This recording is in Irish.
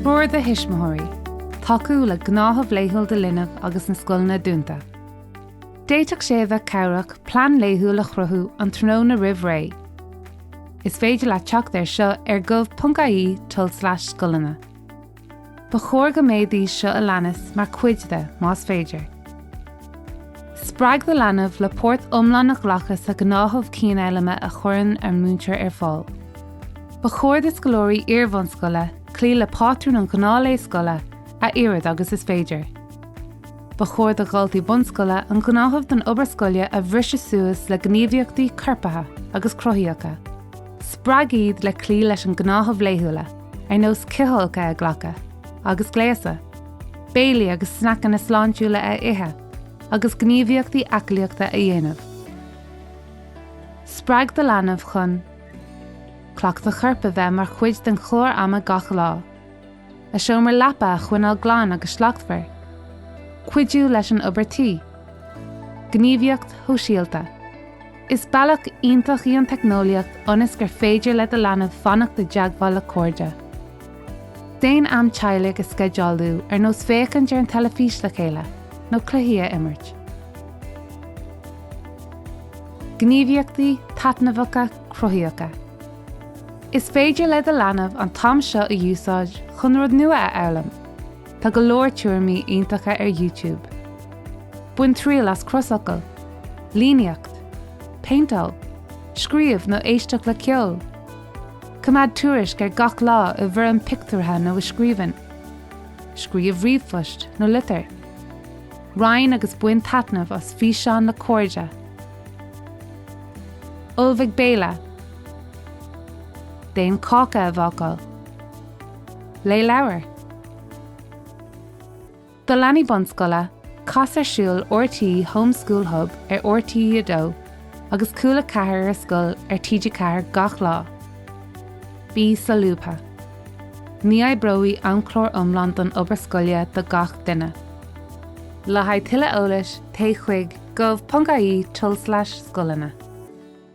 Treoir do Thuismitheoirí, Tacú le Gnáthamh Laethúil do Linbh agus na Scoileanna Dúnta. D'fhéadfadh sé a bheith cabhrach plean laethúil a chruthú an tráthnóna roimh ré. Is féidir leat teacht air seo ar gov.ie tulslais scoileanna. Ba chóir go mbeadh iad seo a leanas mar chuid de, más féidir. Spreag do leanbh le páirt iomlán a ghlacadh sa ghnáthamh cianfhoghlama a chuireann an múinteoir ar fáil. Ba chóir do scoláirí iarbhunscoile cloí le pátrún an ghnáthlae scoile a oiread agus is féidir. Ba chóir do dhaltaí bunscoile an gnáthamh don obair scoile a bhriseadh suas le gníomhaíochtaí corpartha agus cruthaíocha. Spreag iad le cloí leis an gnáthamh laethúla, ar nós cithfholcadh a ghlacadh agus gléasadh. béilí agus sneaiceanna sláintiúla a ithe, agus gníomhaíochtaí aclaíochta a dhéanamh. Spreag do leanbh chun cleachtadh coirp a bheith mar chuid den chlár ama gach lá. A seomra leapa a choinneáil glan agus slachtmhar. Cuidiú leis an obair tí. Gníomhaíocht shóisialta. Is bealach iontach í an teicneolaíocht ionas gur féidir le do leanbh fanacht i dteagmháil le cairde. Déan am teaghlaigh a sceidealú, ar nós féachaint ar an teilifís le chéile nó cluichí a imirt. Gníomhaíochtaí Taitneamhacha, Cruthaíocha, Is féidir le do leanbh an t-am seo a úsáid chun rud nua a fhoghlaim. Tá go leor tuairimí iontacha ar YouTube. Bain triail as crosfhocal, líníocht, péinteáil, scríobh nó éisteach le ceol. Coimeád tuairisc ar gach lá i bhfoirm pictiúrtha nó i scríbhinn. Scríobh ríomhphost nó litir. Roinn agus bain taitneamh as físeán le cairde. Ullmhaigh béile. Déan cáca a bhácáil. Léigh leabhar do leanaí bunscoile, cas ar siúl RTÉ Home School Hub ar RTÉ 2 agus Cúla 4 ar Scoil ar TG4 gach lá. Bí solúbtha. Ní oibreoidh amchlár iomlán don obair scoile do gach duine. Le haghaidh tuilleadh eolais téigh chuig gov.ie tulslais scoileanna.